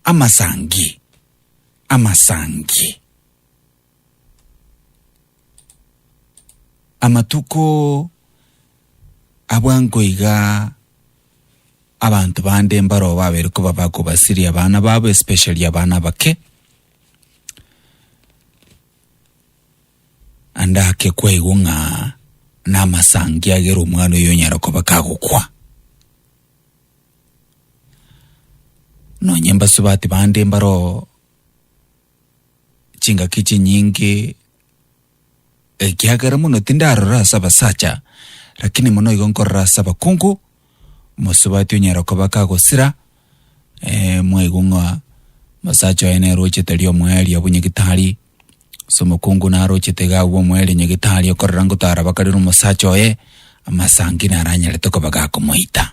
Amasangi, amasangi. Amatuko abwo nkoiga abanto bande mbaroo babere koba bakobasiria abana babo especially abana abake andake kwaigwa ng'a namasangi agere omwana oyo onyara koba kagokwa Nonye mbasubati bande mbaro chingaki chinyinge ekiagera mono tindarora ase abasacha lakini mono igo nkorora ase abakungu mosubati onyara koba kagosira eh, mwaigwa ng'a mosacha oye nere ochete ria omoerio bwa nyagetari Ase omokungu narochete iga agwo omwere nyagetari okorora ngotara bakarera omosacha oye amasangi naranyarete koba gakomoita.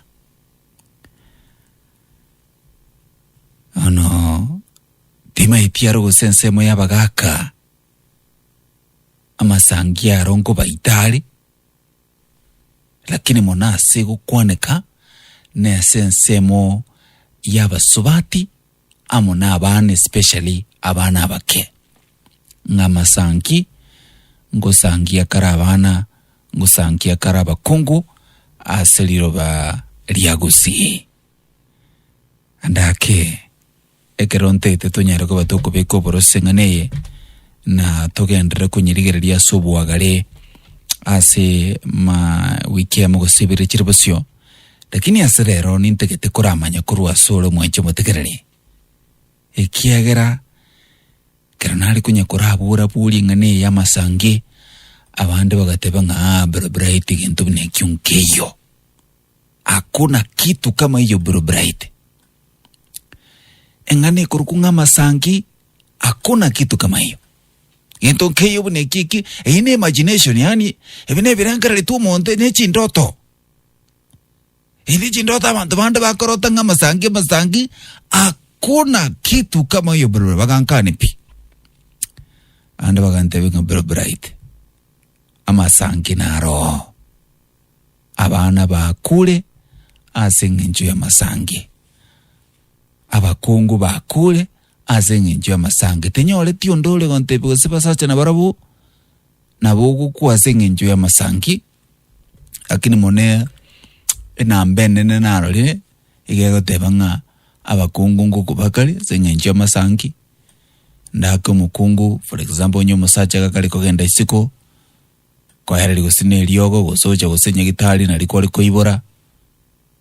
Ono timaeti aro gose ensemo y'abagaka amasangi aro nkobaita are lakini mono ase gokwaneka nese ensemo y'abasubati amo nabana especially abana abake ng'a masanki ngosangia kare abana ngosankia kare abakungu ase riroba ria Gusii and ake ekero ntaete tonyare koba tokobeka oborose ng'a neye na togenderere konyirigereria ase obwagare ase ma wiki emo gose ibere chire bosio Lakini ase rero nintagete koramanye korwa ase ore omwancha omotegereri, ekiagera ekero nare konya korabora-borie ing'ana eye y'amasangi, abande bagateba ng'a aa bro bright gento buna ekio nkeiyo. Hakuna kitu kama hiyo bro bright. Eng'ana ekorokwa ng'a amasangi, hakuna kitu kama hiyo. Gento nkeiyo buna eki eki, eyio ne imagination yaani, ebi nebirengereretu omonto, ne chindoto. Indi chindoto abanto bande bakorota ng'a amasangi amasangi akona kitu kama yo bro bagankane pi. Ande bagantebe ng'a bro bright. Amasangi na roho. Abana bakure ase ng'encho ya masangi. Abakungu bakure ase ng'encho ya masangi. Tinyoreti onde ore gontebe gose basacha na barabo nabo ogokwa ase ng'encho ya masangi. Lakini mone enamba enene narorire iga egoteba ng'a abakungu ngoko bakare ase eng'encho y'amasanki, ndake omokungu for example onye omosacha iga kare kogenda isiko, kwaereri gose na eriogo gose ocha gose nyagitari nari kware koibora,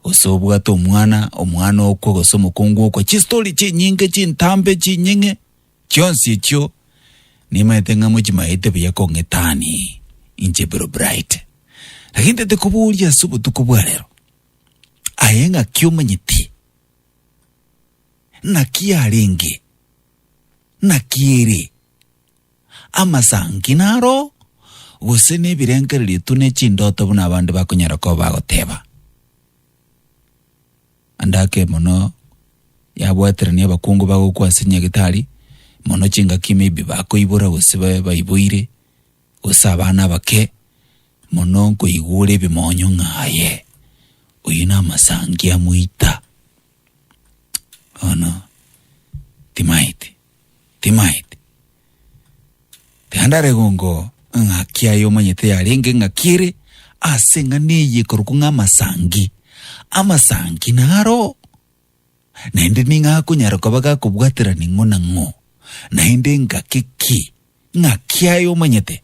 gose obwate omwana, omwana okwe gose omokungu okwe, chistori chinyinge chintambe chinying'e. Chionsi echio nimaete ng'a mochimaete buya kong'etani inche biro Brighte. Lakini ntete koboria ase obotuko bwa rero, aye ng'aki omanyeti? Naki arenge? Naki ere? Amasangi naro? Gose nebirengererio tu ne chindoto buna abande bakonyara koba bagoteba? Andake emono yabwaterania abakungu bagokwa ase Nyagetari, mono chingaki maybe bakoibora gose babe baiboire, gose abana abake, mono nkoigwa ore ebimonyo ng'a aye, oyio na amasangi a moita. Bono timaeti. timaete. Tiandare gongo ng'aki aye omanyete yarenge ng'aki ere ase eng'ana eye ekorokwa ng'a amasangi. Amasangi naro naende ning'a akonyara koba gakobwaterani ng'o na ng'o naende engaki ki ng'aki aye omanyete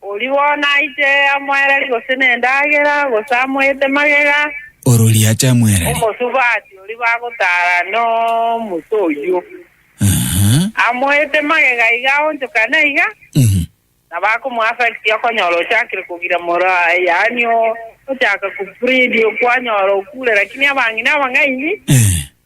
Oria bono aiche amoereri gose nendagera, gose amoete magega. Orori ache amoereri. Omosubati oria bagotara nomusa oyio. Aha. Amoete magega iga aonchokane iga. Mhm. Nabo akomoaffect okonyora ochakire kogira moro aye, yaani o- ochaka kubreed, okwanyora okure, lakini abang'ina abang'aini Eh.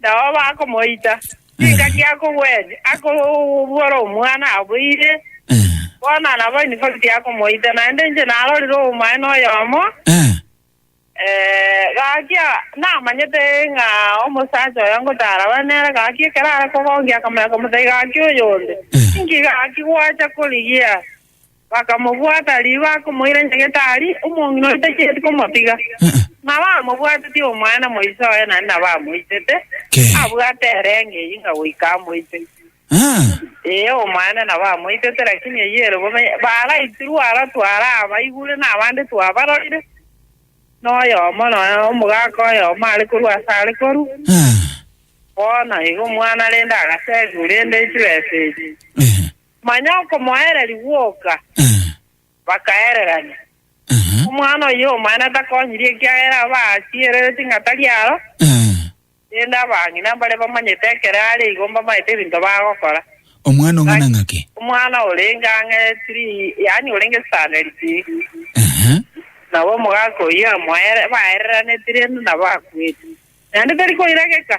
Nao bakomoita, chingaki akogwete, akobora omwana aboire, Eh, bono nabo in fact akomoita, naende inche narorire obomaene oyomo, eh, eh, gaki ah, namanyete ng'a omosacha oyo ngotaraba nere, gaki ekero are kogongia akamanya komotebia, gaki oyonde, Eh. inki gaki gwacha korigia Bakamobwata, ribu bakomoira nyagetari, omong'ina oyo tacheti komotiga, ng'a bamobwateti omwana moiso oye naende nabamoisete, Ke. abwate ere eng'enyi ng'a goika amoite. Ah, Ee, omwana nabamoitete, lakini eyio ere bobe baraitirwe ara twarabaigure na abande twabarorire, na oyomo nonya omogaka oyomo are korwa ase are korwa. ah, Bono igo omwana rende agaseegigwa rende chibesa echi. eh. Manya okomoereria gwoka. Bakaererania. Omwana oyio omanene takonyirie ekiagera aba aachie erere ting'a tari aro, rende abang'ina mbare bamanyete ekero are igo mbamaete ebinto bagokora. Omwana ong'ana ng'ake. Omwana orenge ang'e tiri, yaani orenge standard tiri. Nabo omogaka oyio amoere, baereraneti rende nabo akwete. Naende tari koirageka.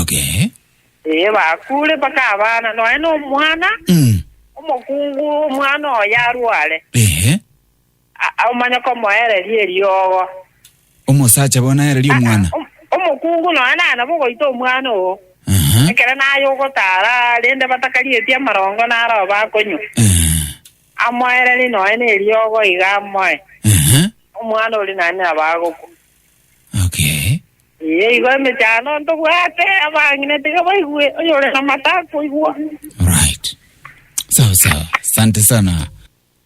Okay. Ee, bakure mpaka abana, nonya nomwana Mm. omokungu, omwana oyo arware, Ehe. a- a- omanye komoereria eriogo. Omosacha bono aereria omwana. Om- Omokungu nonya naye nabo ogoita omwana oo, Aha. ekero naye ogotara, rende batakarieti amarongo naro bakonywa. Eh, Amoereri nonya neriogo iga amoe, Aha. omwana ori naye nabo agokwa. Okay. Eyio igo emechando ntobwate, abang'ina tiga baigue, oyore namate akoigwa. Alright. Sawa sawa. Asante sana.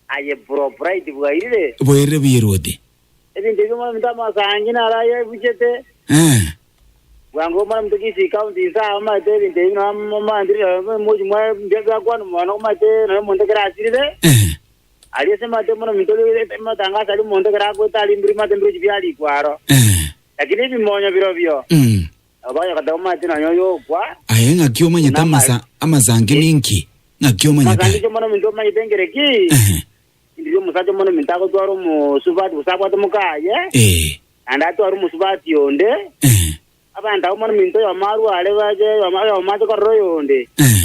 Aye bro bright bwairire. Bwairire buya erwoti. Ebinto ebio muna mtama asangi naro aye ebuchete. Eh. Bwango muna mtu kisi county isa omate ebinto ebio na mamandire moji mwa mbia bya kwanu mwana omate na muntu kera asirire. Eh. Aria ase mato buna ominto oria omotangaso aria omonto ekero agoeta arimbire mato ebirochi biarikwa aro. Eh. Lakini ebimonyo birobio, Mm. nabo bagokoteba omate nonya oyokwa, Aye ng'aki omanyete Nama- amasa amasangi ninki? Ng'aki omanyete? Masangiche mono ominto omanyete engere ki? Ehe. Ndiri omosacha mono ominto agotwara omosubati gose abwate omokaye, Eh. naende atware omosubati onde. Ehe. Abanto abwo mono ominto oyomo arware bache oyomo oyomo ache korora oyonde. Ehe.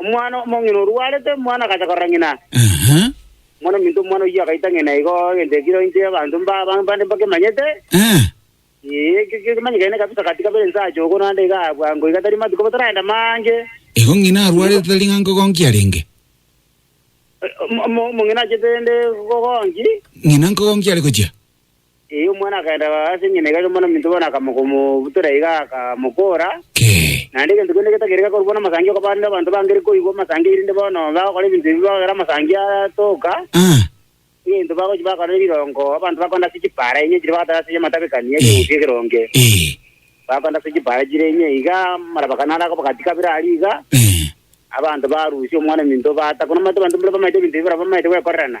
Omwana omong'ina orwarete, omwana agacha korora ng'ina. Ehe. Omwana ominto omwana oyio agaita ng'ina igo, egento ekero inche abanto mba- ba- mbande mbakemanyete. Eh. Ee, eke ekero kimanyekene kabisa gati kabere inse ache ogo naende iga aa bwango iga tari matuko bataragenda mange. Igo ng'ina arwarete tari ng'a nkogonki arenge. Eh, omo- omo- omong'ina achete ende kogonki. Ng'ina nkogonki are gochia. Erio omwana akagenda ase eng'ina igachia omwana ominto bono akamokomobutora iga akamokoora. Naende egento kende getagere gekorokwa namasangi okobaa rende abanto bangere koigwa amasangi erinde bono bagokora ebinto ebi bagere amasangi atoka, egento bagochia bakora ne rirongo abanto bakonda ase chipaara enye chire bagatara ase amatabekani ya ekegusu ekeronge. Bakonda ase chipaara chire enye iga amarabakani aria akabagati kabere aria iga, abanto barusia omwana ominto baata. Kono omanyete abanto mbare bamaete ebinto ebi barabwo bamaete gwekorerana.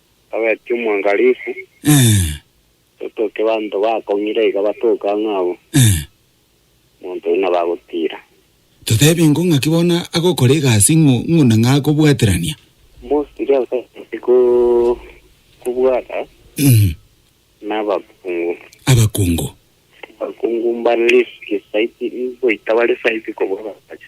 Togeti omwangalifu, Eh, totoke banto bakong'ira iga batoke ang'e abo, eh. omonto buna bagotiira. Totebie ngo ng'aki bono agokora egasi ng'u- ng'una ng'a akobwaterania? Mosiri ase ko- kobwata Mhm. nabakungu. Abakungu. Abakungu mbare risiki saiti, goita bare saiti kobua abasacha.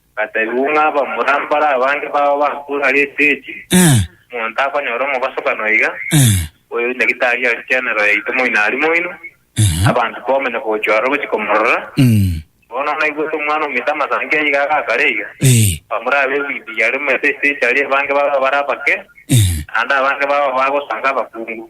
Gatebigwe ng'a abamura mbare abange babo bakure aria etechi, Eh, omonto akonyora omogosokano iga, eh, oyo nyagitari aria chenero yaito moino aria moino, aha, abanto bakomanya gochia ororo gochia komorora. mm, Bono naigwete omwana ominto amasangi aye iga agakare iga, eh, abamura abe ebinto yare omanyete etechi aria abange babo bare abake, eh, naende abange babo bagosanga abakungu.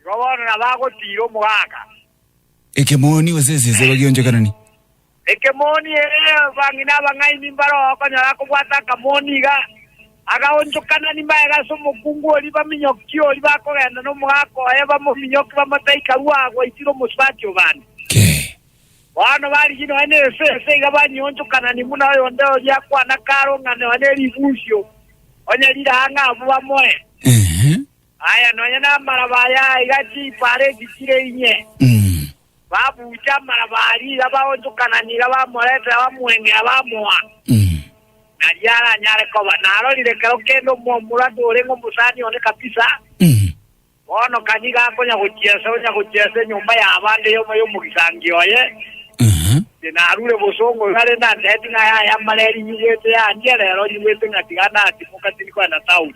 Igo bono nabagotiira omogaka. Ekemoni gose esesero gionchokanani. Ekemoni, ee, bang'ina abang'aini mbare ogokonyora akobwata akamoni iga, agaonchokanani magega ase omokungu oria, baminyokie oria, bakogenda nomogaka oye, bamominyokie, bamotaika rua agwo aitire omosubati obande. Kee. Bono barigie nonya ne esese iga, banyionchokanani buna oyonde oria akwana karo ng'a nonya ne ribunsio, onye rire ang'e abwo bamoe. Eeh. Aye nonya namaraba aya aiga chiipa are chichire inye, babuuche amaraba aria iga baonchokana niga bamoretera bamweng'ea bamoa, nario aranyare koba narorire ekero kende omwomuratu orenge omosani one kabisa, bono ka nigo akonya gochia ase onya gochia ase enyomba y'abande yomo y'omogisangio oye, inche narure bosongo iga rende antebi ng'a aya aye amareri nyigwete yandie, rero nyigwete ng'a tiga natimoka tindi kogenda taoni.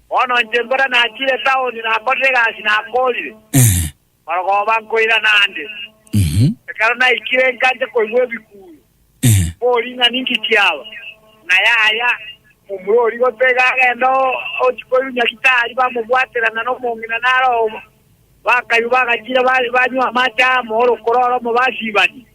Bono inche mbora nachire taoni, nakorire egasi nakoorire, marogoba nkoirana ande. Ekero naikire nkancha koigwa ebikuuru, mbori ing'ana inki kiaba, na yaya, momura oria gotega agenda ochi koirwa Nyagitari, bamobwatera ng'a nomong'ina nare obo. Bakaywa bagachire banywa amache amo, orokoro oromo basiibania.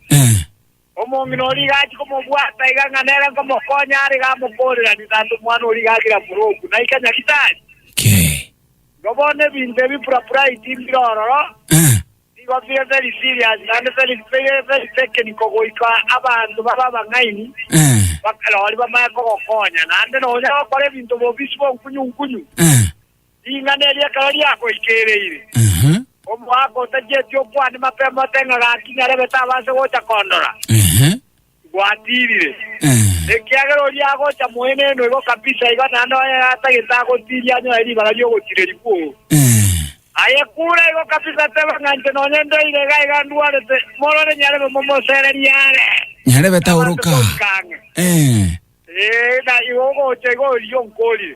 Omong'ina oria igachia komobwata iga ng'a nere nkomokonya are iga amokooreranie, Tata, omwana oria iga agira boroku, na ika Nyaritari. Ki? Igo bono ebinto ebi Purapuraiti mbire ororo, Eh. nigo bire very serious naende very, bire very technical goika abanto babe abang'aini, Eh. bakarori bamanye kogokonya. Naende nonya gokora ebinto bobisi bonkunyu-nkunyu. Eh. Ring'ana eri ekero riakoikereire, Ehe, omoaka otachieti okwania mapema ote ng'a gaki nyarebe tabanse gocha kondora, ehe, gwatirire. eh. Ekiagera oria agocha moino eno igo kabisa, igo naende oye atagete agotiria anyore ribaga ri'ogotireri kwoo. Eh, Aye kure igo kabisa teba ng'a inche nonye ndeire iga iga ndwarete, morore nyarebe momosererie are. nyarebe taoroka. Abanto boikang'e. Eh, Ee, na igo ogocha igo oria onkorire.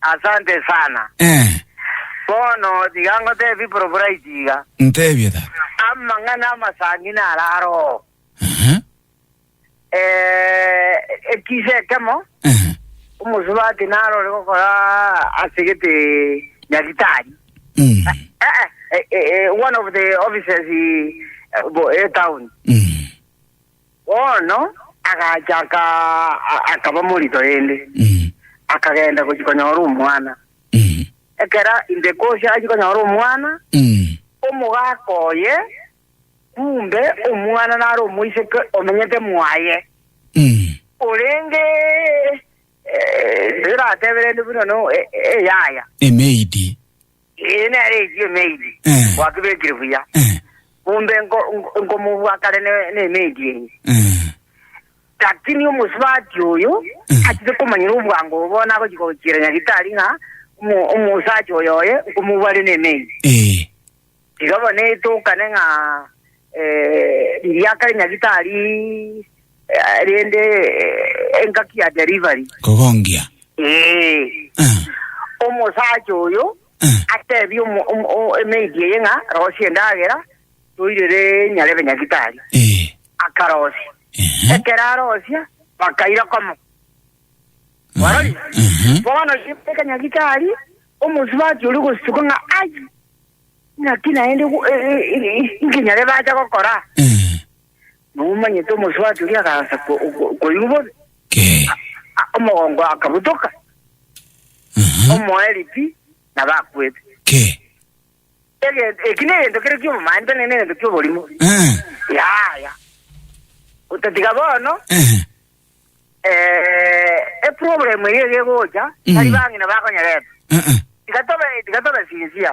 Asante sana. Eh. Bono tiga ngotebie Probright iga. Ntebie tata. Amang'ana amasangi naro aroo. Aha. Eh, ekisa ekemo, Aha. omosubati naro ore gokora ase gete Nyaritari. Mm. Eh, eh, eh, eh, one of the offices eh, bo- eh, town. Mm. Bono agacha aka, akaba morito rende, akagenda gochia konyora omwana. Ekero ainde Kusi achia konyora omwana, omogaka oye, kumbe omwana nare omoiseke omenyete mwaye, orenge eh, tiratebe rende buna no e- e- eyaya. Emeidi. Eye nere echi emeiti Eh. gwakebekire buya, Eh, mombe nko- nko- nkomobua kare ne- nemeiti eye. eh, Lakini omosubati oyo Mm. achire komanyera obwango obo bono agochia gochiera nyagitari ng'a omo- omosacha oyo oye nkomobua are nemeiti. eh, Iga bono etokane ng'a eh, riria kare nyagitari Rende engaki ya delivery. Kogongia. Ee. Eh. Omosacha oyo Eh. atebie omo- omo- o- emaid eye ng'a rosia endagera toirere nyarebe nyagitari. Ee. Akarosia. Ehe. Ekero arosia bakaira komo. Warori? Ehe. Bono yebeka nyagitari omosubachi ori gosituka ng'a ai ng'aki naende gu- e- e- e- nkinyarebe acha gokora. Ee. Nomomanyete omosubati oria agaancha ko- ko- koigwa bobe, Kee. a- omogongo akabutoka, Aha. omoeri pi, nabo akwete. Kee. Egento- Eki negento kere ki'obomanchani, na negento ki'oborimo. Eh. Yaya. Otatiga bono, Eh. eh, eproblem eye egegocha, Mm. tari bang'ina bakonyerete. Eh. Eh. Tiga tobe- tiga tobe sincere.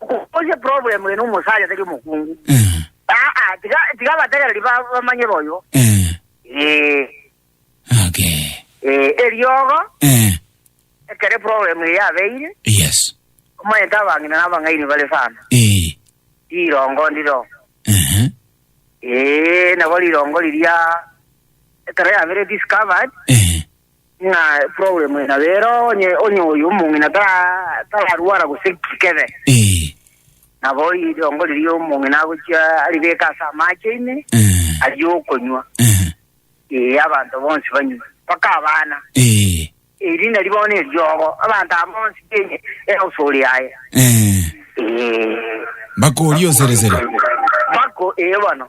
Okoboria problem eye nomosacha tari omokungu. Eh. Aa, tiga tiga abategereri ba- bamanye boyo. Eh. Eh, Okay. eh, eriogo Eh. ekere problem eye yabeire Yes. omanyete abang'ina na abang'aini bare sana. Eh. Rirongo ndiro. Eh. Eh, nabo rirongo riria ekero yabere discovered Eh. Ng'a problem ina bero onye onye oyo omong'ina tara tararwara gose kikebe. Eh. Nabo ridongo riria omong'ina agochia aribeka ase amache ime Eh. aria okonywa. Eh. Ee abanto bonsi banywe mpaka abana. Eh. Eri nari bono eriogo abanto aba bonsi kenya egosori yaye. Eh. Ee. Bakori oseresere. Bako ee bono.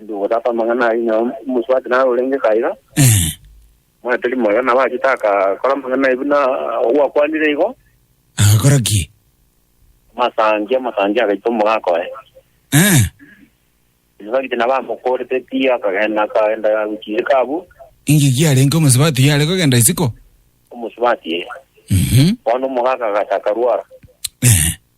Inde ogotaka amang'ana ayio na omosubati naro orenge kaiga, Eh. moyo tori moyo, nabo achete agakora amang'ana ayio buna ogwakwanire igo, Agakora ki? amasangi amasangi agaita omogaka oye. Eh. Omosubati nabo amokorete pi, akagenda akagenda gochia isiko abwo, Inki kiarenge omosubati oyo are kogenda isiko? omosubati eye. Mhm. Bono omogaka agacha akarwara. Eh.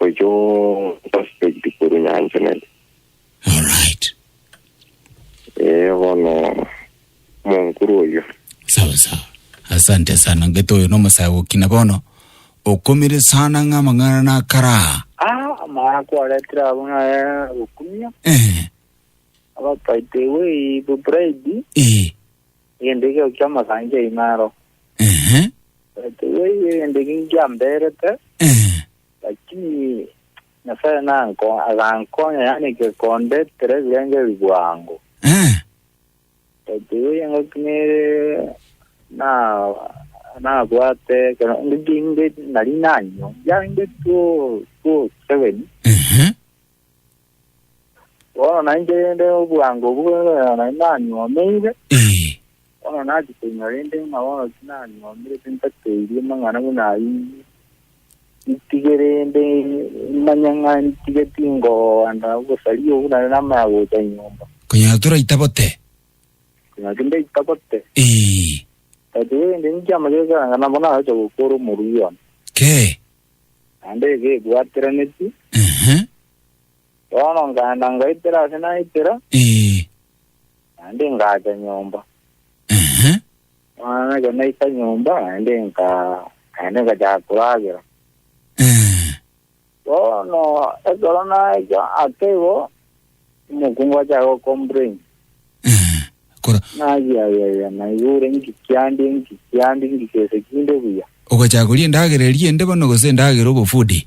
Oiche osuspect korwa nyancha nere. Alright. Eh, bono monkuru oyo. Sawa sawa. Asante sana. Ngeto oyo no masae gokina bono. Okomire sana ng'a mang'ana na karaa. Ah, amara kwaretera abo naye gukumia. Eh. Abapaite we the bride. Eh. Egendegio ki'amagancho aino aro. Ehe. Tibaiyo egendegio nkiamberete, Eh. lakini Nyasae nanko agankonya, yaani gekonde tera ebirengeri bwango. Eh. Tibaiyo ngoki nere na nabwate ekero ngiginde nari nanywa, yande two two seven. Ehe. Bono nainche rende obwango obwo bwebererwa nai nanyuomeire, Ee, bono nachi koinywa rende ng'a bono tinanyuomerete ntateirie amang'ana buna ayio inwe. Ntige rende manye ng'a ntige tingoganda obosaria obwo naende namanya gocha nyomba. konyora toraita bote. Konya tindaita bote. Ee, But rende inche amagega ekeranga nabo nagocha gokora omorwio one. kee. Naende iga ebwateranetie. Ehe. Bono nkaenda ngaitera ase naitera, Ee. naende ngaacha nyomba. Ehe. Bono ekero naika nyomba, naende nka naende ngachaka koragera. Ee. Bono ekero naika ake igo, omokungu achaka gocomplain. Ee. Kora. Naki ai ai ai, naigure nki kiande nki kiande nki gese kinde buya. Ogachaka koria endagera eria ende bono gose endagera obofudi?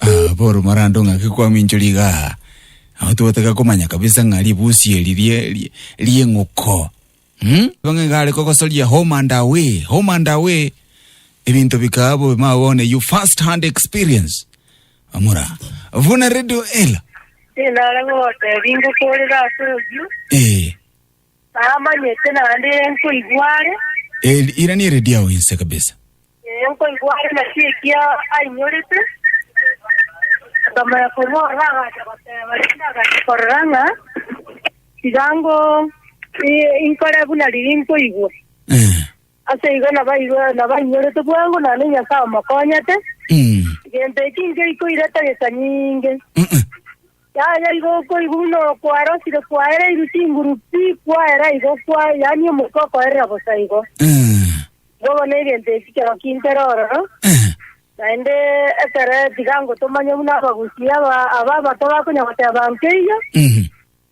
Ah, Paul Marando ng'ake kwaminchori iga. Aho twataka komanya kabisa ng'a ribusi eri rie rie- rieng'uko. Hmm? Bang'e gare kogosoria home and away, home and away. Ebinto bikabo mawone you first hand experience. Amura. Vuna radio ela. Tinare gogotebi ngokorere ase oyio, Eh. namanyete naende nkoigware, El, ira ni radio yao inse kabisa. Ee, nkoigwa are naki ekia ainyorete. Nkamanya korwa ororo agacha goteba, rende agacha korora ng'a tiga ngo i- inkore buna riria nkoigwa. Eh. Ase igo nabairwe nabainyorete bwango naende Nyasae omokonyete. Mm. Gento eki ngeikoire tagesa nyinge. Mm-mm. Yaya igo okoigwa buna okwarosire kwaereirwe chinguru pi kwaera igo kwa yaani omoika okoerera bosa igo. Eh. Bobe negento eki keroki ntere ororo, naende ekere tiga ngotomanye buna abagusii aba aba abato bakonya goteba nkeiyo, Mhm.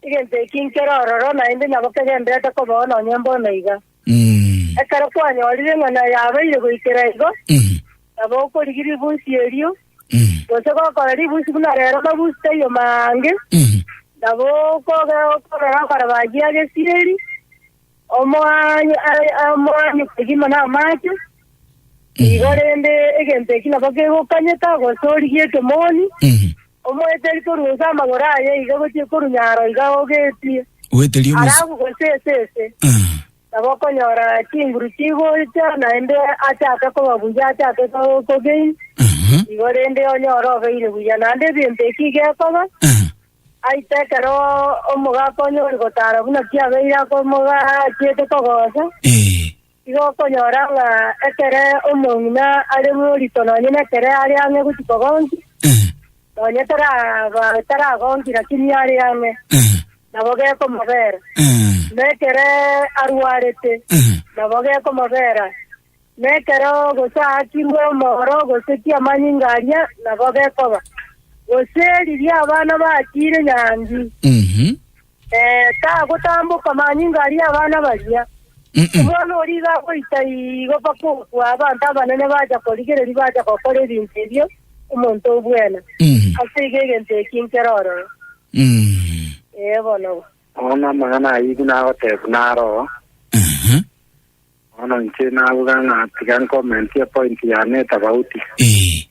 egento eki nkere ororo, naende nabo kegenderete kobao nonye mbono iga. Mm. Ekero kwanyorire ng'a na yabeire goikera igo, Mhm. nabo okorigia ribusi erio, Mhm. gose gokora ribusi buna rero mabusi taiyo mange, Mhm. nabo okoge- okorora okore bagia gesiri, Omoaye are amoanyu kegima namache, igo rende egento eki nabo kegokanyeta gose origie ekemoni, omoeteri korwa ase amagoro aye iga gochia korwa nyaro iga ogetie, Oeteria omosi- halafu gose ase ese, Ah. nabo okonyora chinguru chigocha, naende achake koba buya, achake ko- kogain, Aha. igo rende onyore obeire buya. Naende egento eki gekoba, Ah. Aite ekero omogaka onyori gotaara buna kiabeire akomogachiete kogocha, igo okonyora ng'a ekere omong'ina are morito nonye nekere are ang'e gochia kogonki, nonye taraba taragonki naki niye are ang'e, nabo gekomobera, na ekere arwarete, nabo gekomobera. Na ekero gosaakirwe omooro gose kiamanyinga aria, nabo gekoba, gose riria abana batiire nyangi, Mhm. ee, tagotamboka manyinga aria abana baria. Mm-mm. Omwana oria iga agoita igo mpaka okwa abanto abanene bacha korigereria bacha gokora ebinto ebio omonto o bwena. Mhm. Ase igo egento eki nkere ororo. Mm. Ee, bono. Bono amang'ana ayio nagoteebwa naroo, Aha. Bono inche nabuga ng'a tiga nkomentie epointi yane etagauti. Ee.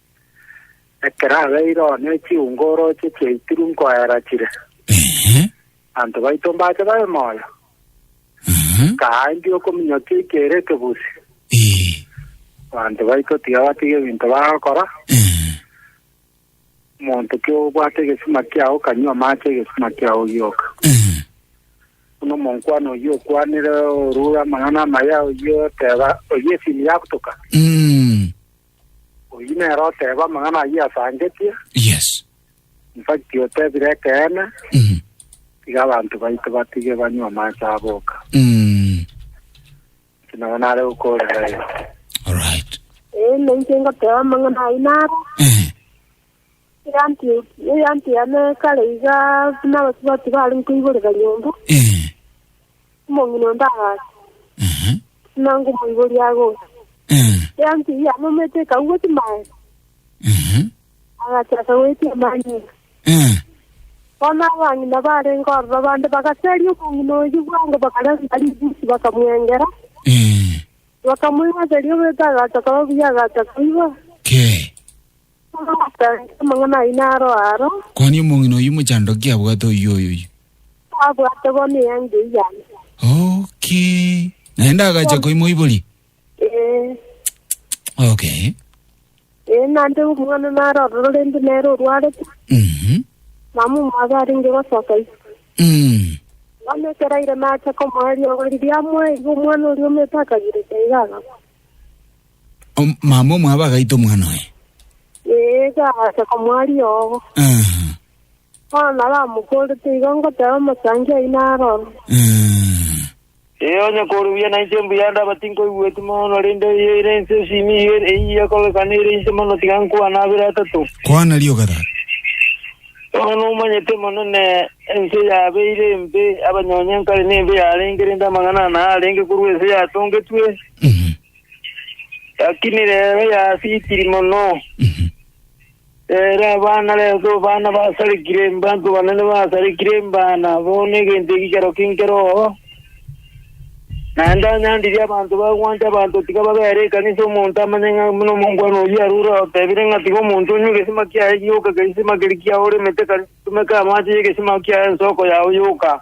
Ekero abeire oo ne chiungo orooche chiaitiru nkoera chire, Ehe. abanto baito mbache babe moyo. Aha. Kaambia okominyokia ekeire ekebusi, Ee. abanto baito tiga batige ebinto bagokora, Ee. omonto ki obwate egesima kiao kanywa amache egesima kiao gioka. Ee. Buna omonkwana oyio okwanire orure amang'ana amaya, oyio oteba oyio esini yagutoka. Mm. Oyio nere oteba amang'ana ayio asangetie, Yes. in fact otebire ekeene, Mhm. tiga abanto baito batige banywe amache abo oka. Mm. Inche nabo nare gokoorera ere. Alright. Ee, na inche ngoteba amang'ana ayio naro, Ehe. Egento yane kare iga buna abasubati barenge koiborera nyomba, Eh. omong'ina onde agacha, Ehe. buna ngomoiboria agocha. Eh. Egento eyio yane omanyete ekagwa chimaye, Ehe. agacha akagoetia amanyinga. Eh. Bono abang'ina barenge ororo bande bagaseria omong'ina oyio bwango bakarenta ribusi bakamwengera, Eh. bakamoigoseria oboyota agacha koba buya agacha koiba. Kei. Omosangi amang'ana ayio naro aro. Kwanini omong'ina oyio mochandoki abwate oyio oyoyio? Abwate bono eanga eyio yane. Okay. Naende agacha koimoiboria? Ee, Okay. ee, naende omong'ana naro ororo rende nere orwarete. Mhm. Mama omwabo arenge gosoka ise. Mm. Bono ekero aire nacha komoa eriogo riria amoa igo omwana oria omete akagireka iga agakwa. Om- Mama omwabo agaita omwana oye. Ee, gagacha komoa riogo. Aha. Bono naramokorete igo ngoteba omosangi oino aroro. Aha. Ee, onye korubuya nainche mbuya ndaba tinkoigweti mono, rende eye ere ense esimi iga ere- eyia korokana ere inche mono tiga nkwane abere atato. Kwana rioka tata. Bono nomanyete mono ne ense yabeire embe, abanyonye nkare nembe yarenge, rende amang'ana ana arenge korwa ense yatongetwe. Mhm. Lakini rero yasitiri mono, rero abana reso bana basarekire mbantu banene basarekire mbana bono egento ekikero kinkero oo. Naende anyandirie abanto bagwancha abanto tiga babere ekanisa omonto amanye ng'a buna omongwana oyio arure otebire ng'a tiga omonto onywe egesima kiaye gioka egesima keria kiaoremete kare tumeka amache y'egesima kiaye ensoko yao yoka.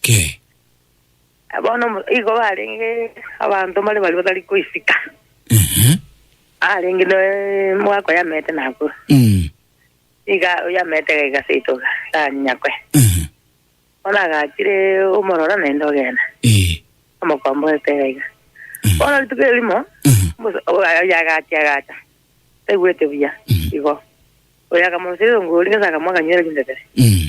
Ke. Eh, bono omo- igo barenge abanto mbare baria batari koisika, Ehe. arenge ne mwaka oyamete nakure, Mm. iga oyamete iga igaseito iga, ganyakwe. Ehe. Bono agachire omorora naende ogenda, Eh. omokombo oete iga iga. Mm. Bono rituko erimo, Ehe. Musa- o- oyo agacha agacha taigwete buya Mm. igo oyo akamosirira ngori ng'ese akamoa akanywera chindebere Mm.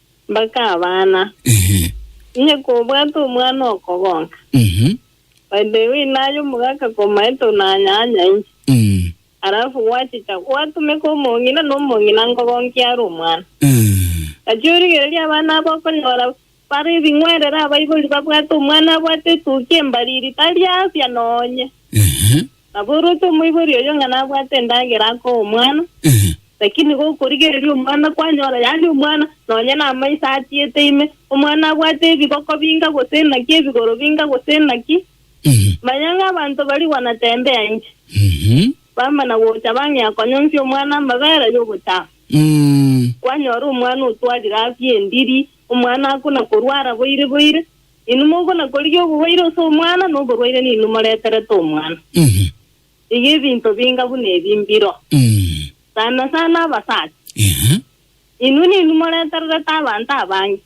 Bakabana, Ehe. Inye kobwate omwana okogonka. Mhm. By the way, naye omogaka komaete onanyanya inche. Mm. Alafu gwachicha gwatumeka omong'ina na omong'ina nkogonkia are omwana. Eh. Gachia origereria abana abo okonyora bare ebing'werere abaibori babwate omwana abwate etukia embariri tari afya nonye. Ehe. Nabo oroche omoibori oyio ng'a nabwate endagera akoe omwana, lakini gokorigereria omwana kwanyora yaani omwana nonye namaiso atiete ime, omwana abwate ebigoko binga gose inaki, ebigoro binga gose inaki. Manya ng'a abanto barigwa na tembea inche, bamana gocha bang'ea konyonsia omwana amabera y'ogochama. Kwanyora omwana otwarire afia endiri, omwana akuna korwara boire boire, Inwe mogonakorigia oborwaire ase omwana, na oborwaire ninwe moreterete omwana. Iga ebinto binga buna ebi mbiro, sana sana abasacha. Inwe ninwe moretererete abanto abange.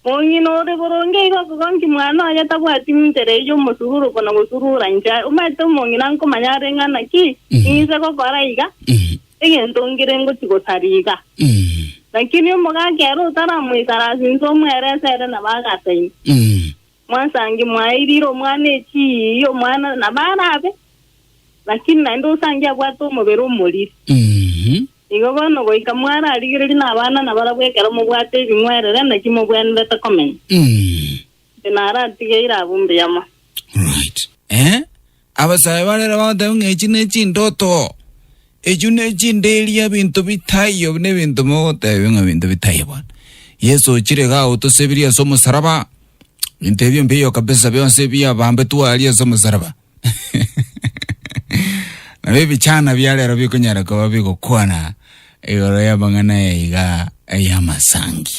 Mong'ina ore boronge iga okogonki mwana oye tabwati nchera eyio omosururu buna gosurura inche. Omanyete omong'ina nkomanya are ng'ana ki, ng'ise gokora iga? egento ngire ngochia gosariga. Naki erio omogaka ere otaramoikarasa inse omwerese ere nabo agataima. Mwansangi mwaye irire omwana echiiyi omwana nabo arabe, lakini naende osangi abwate omobere omoriri. Igo bono goika mwararigereria nabana nabarabwo ekero mobwate ebing'werere naki mobwenerete komenya. Inche naratigeire abwo mbuyoma. Right. Eh? Abasae barere bagoteeba ng'a echi nechindoto, echio nechinderia ebinto bitaiyo, buna ebinto mogoteebia ng'a ebinto bitaiyo bono. Yeso ochire igaa otosebirie ase omosaraba, ebinto ebio mbiyo kabisa bionsi ebiabambetwe aria ase omosaraba. Nabo ebichana bia rero bikonyara koba bigokwana igoro y'amang'ana aya igaa ay'amasangi.